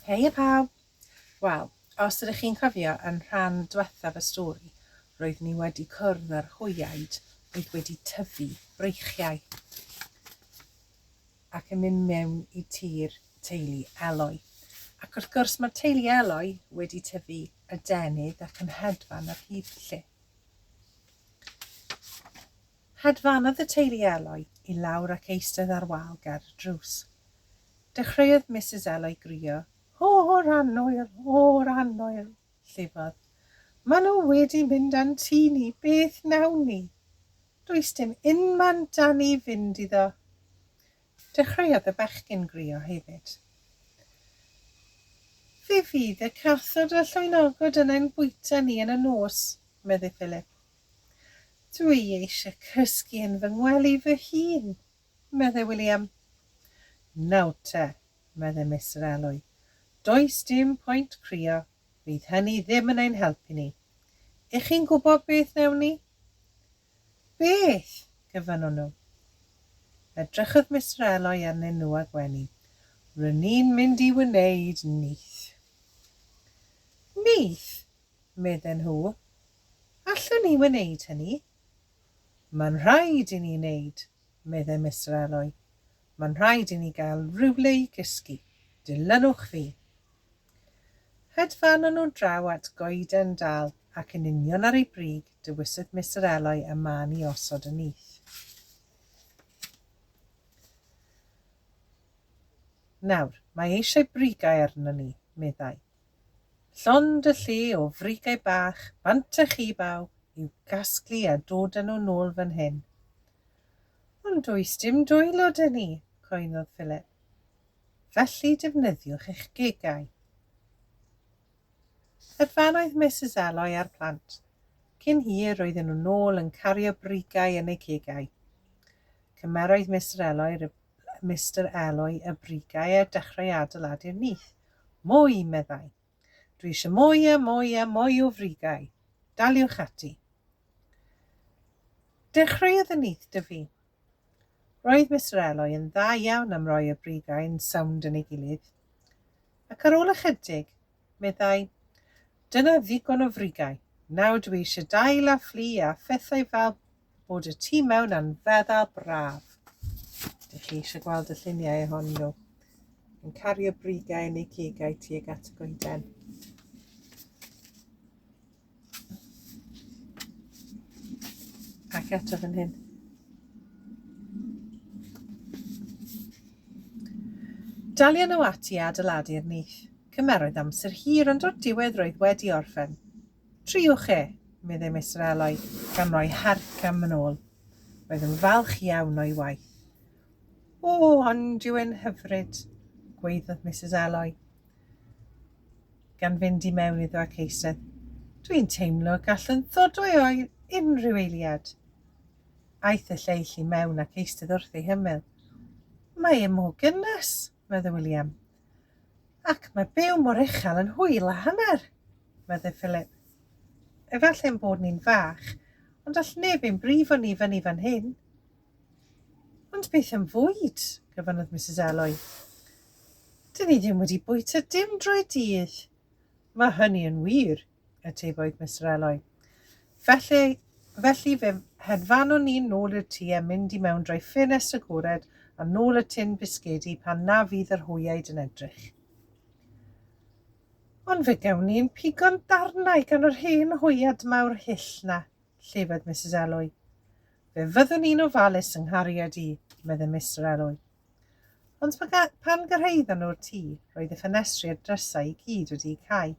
Heia pawb! Wel, os ydych chi'n cofio yn rhan dwethaf y stori, roeddwn i wedi cwrdd â'r hwyaid oedd wedi tyfu breichiau ac yn mynd mewn i tir teulu Eloi. Ac wrth gwrs mae teulu Eloi wedi tyfu adenydd ac yn hedfan ar hyd lle. Hedfanodd y teulu Eloi i lawr ac eistedd ar wal ger y drws. Dechreuodd Misus Eloi grio, O'r annwyl! O'r annwyl! llifodd. Maen nhw wedi mynd a'n tŷ ni, beth wnawn ni? Does dim unman 'da ni fynd iddo. Dechreuodd y bechgyn grio hefyd. Fe fydd y cathod a llwynogod yn ein bwyta ni yn y nos, medde Philip. Dw i eisiau cysgu yn fy ngwely fy hun, meddai William. Nawr te, meddai Mister Elwy, does dim pwynt crio, fydd hynny ddim yn ein helpu ni. Y'ch chi'n gwybod beth wnewn ni? Beth? gofynnwn nhw. Edrychodd Mister Elwy arnyn nhw a gwenu. Ry'n ni'n mynd i wneud nyth. Nyth? medden nhw. Allwn ni wneud hynny. Mae'n rhaid i ni wneud, meddai Mister Alloy. Mae'n rhaid i ni gael rhywle i gysgu. Dilynwch fi. Hedfanon nhw draw at goeden dal ac yn union ar ei brig dewisodd Mister Alloy y man i osod y nyth. Nawr, mae eisiau brigau arno ni, meddai. Llond y lle o frigau bach bant a chi baw i'w gasglu a dod â nhw nôl fan hyn. Ond does dim dwylo 'da ni, coennodd Philip. Felly defnyddiwch eich gegau. Yr fan oedd Misus Eloi a'r plant. Cyn hir roedden nhw nôl yn cario brigau yn eu cegau. Cymeroedd Mister Eloi Mister Eloi y brigau a dechrau adeiladu'r nyth. Mwy! meddai. Dwi eisiau mwy a mwy a mwy o frigau. Daliwch ati. Dechreuodd y nyth dyfu. Roedd Mister Eloi yn dda iawn am roi y brigau'n sownd yn ei gilydd. Ac ar ôl ychydig, meddai. Dyna ddigon o frigau. Nawr dwi eisiau dail a fflu a phethau fel bod y tu mewn a'n feddal braf. Dych chi eisiau gweld y lluniau ohonyn nhw? Yn cario brigau yn eu cegau tuag at y goeden. Ac eto fan hyn. Dalion nhw ati a adeiladu'r nyth. Cymeroedd amser hir ond o'r diwedd roedd wedi orffen. Triwch e, meddai Mister Eloy, gan roi harc am yn ôl. Roedd yn falch iawn o'i waith. O, ond yw'n hyfryd, gweiddodd Mrs Eloy. gan fynd i mewn iddo ac eistedd. Dwi'n teimlo y gallwn ddod o'i oer unrhyw eiliad. Aeth y lleill i mewn ac eistedd wrth ei hymyl. Mae e mor gynnes, meddwl William. Ac mae byw mor uchel yn hwyl a hanner, meddwl Philip. Efallai ein bod ni'n fach, ond all neb ein brifo ni fyny fan hyn. Ond beth am fwyd? gofynnodd Misus Eloi. Dyn ni ddim wedi bwyta dim drwy'r dydd. Mae hynny yn wir, atebodd Mister Eloi. Felly, felly fe hedfanwn ni'n nôl i'r tŷ a mynd i mewn drwy ffenest agored a nôl y tin bisgedi pan na fydd yr hwyaid yn edrych. Ond fe gawn ni'n pigo'n darnau gan yr hen hwyad mawr hyll na, llefydd Misus Eloi. Fe fyddwn i'n ofalus yng nghariad i, medde Mister Elwy. Ond pan gyrhaeddon nhw'r tŷ, roedd y ffenestri a'r drysau i gyd wedi'u cau.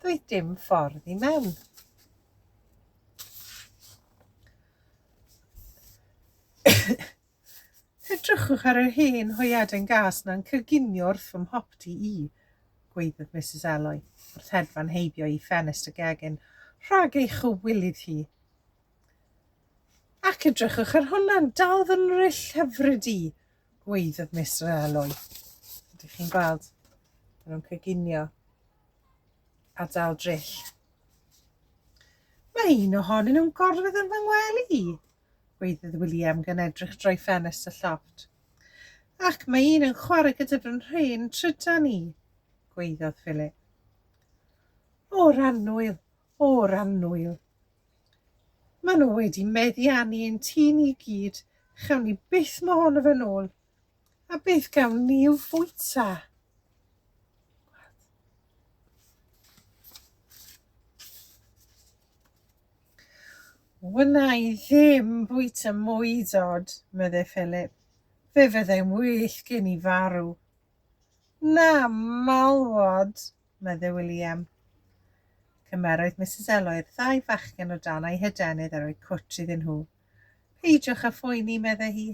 Doedd dim ffordd i mewn. Edrychwch ar yr hen hoiaden gas na'n cyginio wrth fy mhopty i, gweiddodd Mrs Elwy, wrth hedfan heibio i ffenest y gegin, rhag ei chywilydd hi. Ac edrychwch ar hwnna'n dal fy nryll hyfryd i, gweiddodd Miss Realoy. Ydych chi'n gweld? Maen nhw'n cyginio a dal dryll. Mae un ohonyn nhw'n gorfod yn fy ngwely i, gweiddodd William gan edrych drwy ffenest y llofft. Ac mae un yn chwarae gyda fy nhrin trydan i, gweiddodd Philip. O, Rannwyl, o'r annwyl. Mae nhw wedi meddiannu ein tŷ ni i gyd, chawn ni byth mo hon o fe'n ôl. A beth gawn ni i'w fwyta? Wna i ddim bwyta mwy dod, meddai Philip. Fe fyddai'n well gen i farw. Na, malwod, medde William. Cymerodd Misus Eloi'r ddau fachgen o dan ei hydenydd a rhoi cwtsh iddyn nhw. Peidiwch â phoeni, medde hi.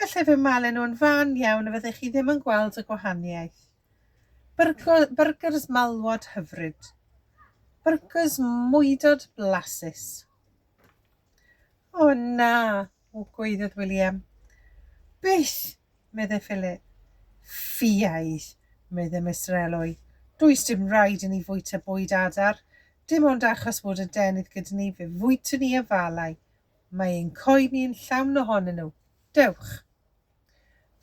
Gallai fy malu nhw'n fan iawn a fyddech chi ddim yn gweld y gwahaniaeth. Byrgers malwod hyfryd. Byrgers mwydod blasus. O na, O Gwaeddodd William. Beth! medde Philip. Ffiaidd! medde Mister Elwy. Does dim raid i ni fwyta bwyd adar. Dim ond achos fod y denydd gyda ni fe fwytwn ni afalau. Mae ein coed ni yn llawn ohonyn nhw. Dewch!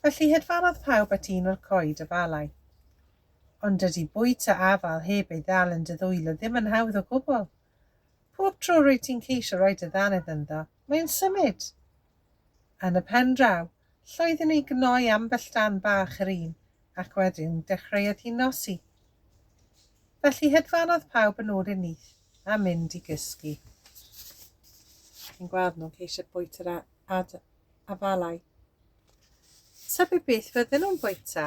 Felly hedfanodd pawb at un o'r coed afalau. Ond dydy bwyta afal heb ei ddal yn dy ddwylo ddim yn hawdd o gwbl. Pob tro rwyt ti'n ceisio rhoi dy ddannedd ynddo, Mae o'n symud! Yn y pen draw, llwyddi ni gnoi ambell dan bach yr un, ac wedyn dechreuodd hi nosi. Felly hedfanodd pawb yn ôl i'r nyth a mynd i gysgu. Chi'n gweld nhw'n ceisio bwyta yr afalau. Tybed beth fydden nhw'n bwyta?